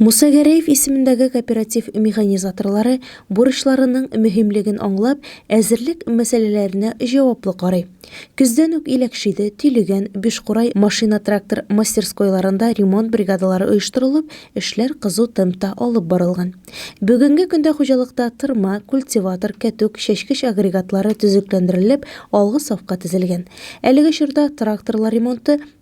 Муса Гәрәев исемендәге кооператив механизаторлары бурычларының мөһимлеген аңлап, әзерлек мәсьәләләренә җаваплы карый. Көздән үк Иләкшиде, Тилегән, Бишкурай машина-трактор мастерскойларында ремонт бригадалары оештырылып, эшләр кызу темпта алып барылган. Бүгенге көндә хуҗалыкта тырма, культиватор, кәтүк, чәчкеч агрегатлары төзекләндерелеп, алгы сафка тезелгән. Әлеге чорда тракторлар ремонты,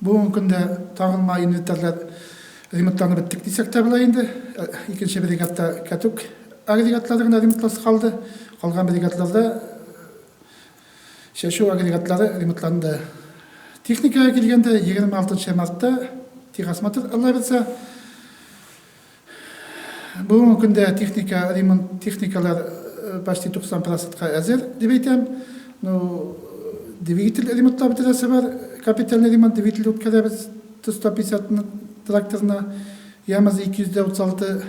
Бүгенге көндә тагын май инвентарьлар ремонтланып беттек дисәк тә була инде. Икенче бригадта кәтүк агрегатлары гына ремонтласы калды. Калган бригадларда чәчү агрегатлары ремонтланды. Техникага килгәндә, 26 мартта техосмотр алабыз. Бүгенге көндә техника, ремонт техникалар почти 90 процентка әзер, дип әйтәм. Ну, двигатель ремонтлап бетерәсе бар, капитальный ремонт, двигатель үткәрәбез, 150 тракторына, Ямаз 236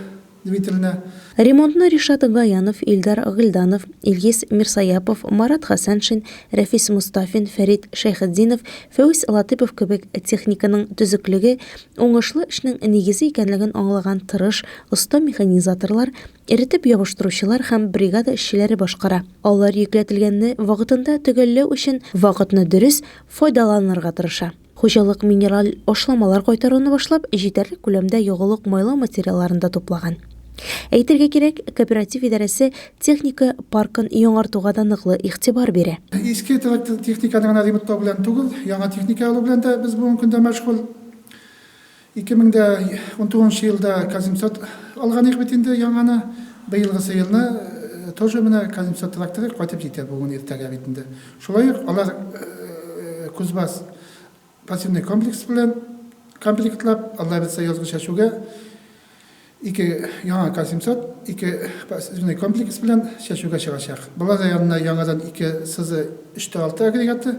двигателенә. Ремонтны Ришат Гаянов, Илдар Гыйльданов, Илгиз Мирсояпов, Марат Хәсәншин, Рәфис Мостафин, Фәрит Шәйхетдинов, Фәүз Латыйпов кебек техниканың төзеклеге, Уңышлы эшнең нигезе икәнлеген аңлаган тырыш, оста механизаторлар, эретеп ябыштыручылар һәм бригада эшчеләре башкара. Алар йөкләтелгәнне вакытында төгәлләү өчен вакытны дөрес файдаланырга тырыша. Хуҗалык минераль ашламалар кайтаруны башлап, җитәрлек күләмдә ягулык-майлау материалларын да туплаган. Әйтергә кирәк, кооператив идарәсе техника паркын яңартуга да ныклы игътибар бирә. Иске техниканы гына ремонтлау белән түгел, яңа техника алу белән дә без бүгенге көндә мәшгуль. 2019 нчы елда Казимсат алганыйк бит инде яңаны. Быелгысы елны тоже менә Казимсат тракторы кайтып җитә бүген-иртәгә бит инде. Шулай ук алар Кузбасс Пассивный комплекс белән комплектлап, Алла әйтсә язгы чәчүгә ике яңа К-700, ике пассивный комплекс белән чәчүгә чыгачак. Болар да янына яңадан ике СЗ 3Т6 агрегаты,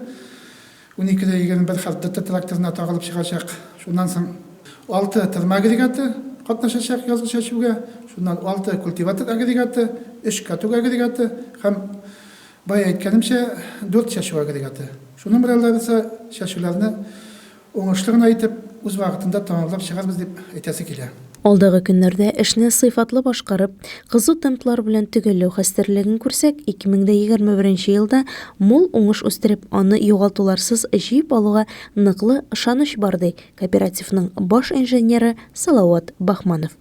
12Д21 хәрт ДТ тракторына тагылып чыгачак. Шуннан соң алты тырма агрегаты катнашачак язгы чәчүгә, шуннан алты культиватор агрегаты, өч каток агрегаты һәм Бая әйткәнемчә, дүрт чәчү агрегаты. Шуның белән Лариса чәчүләрне уңышлы гына итеп, үз вакытында тәмамлап чыгарбыз дип әйтәсе килә. Алдагы көннәрдә эшне сыйфатлы башкарып, кызу темплар белән төгәлләү хәстәрлеген күрсәк, 2021 нче елда мул уңыш үстереп, аны югалтуларсыз җыеп алуга ныклы ышаныч бар, ди кооперативның баш инженеры Салават Бахманов.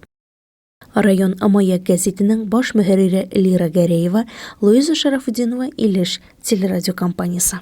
Район Маяк гәзитенең баш мөхәррире Лира Гәрәева, Луиза Шарафутдинова, Илеш телерадиокомпаниясе.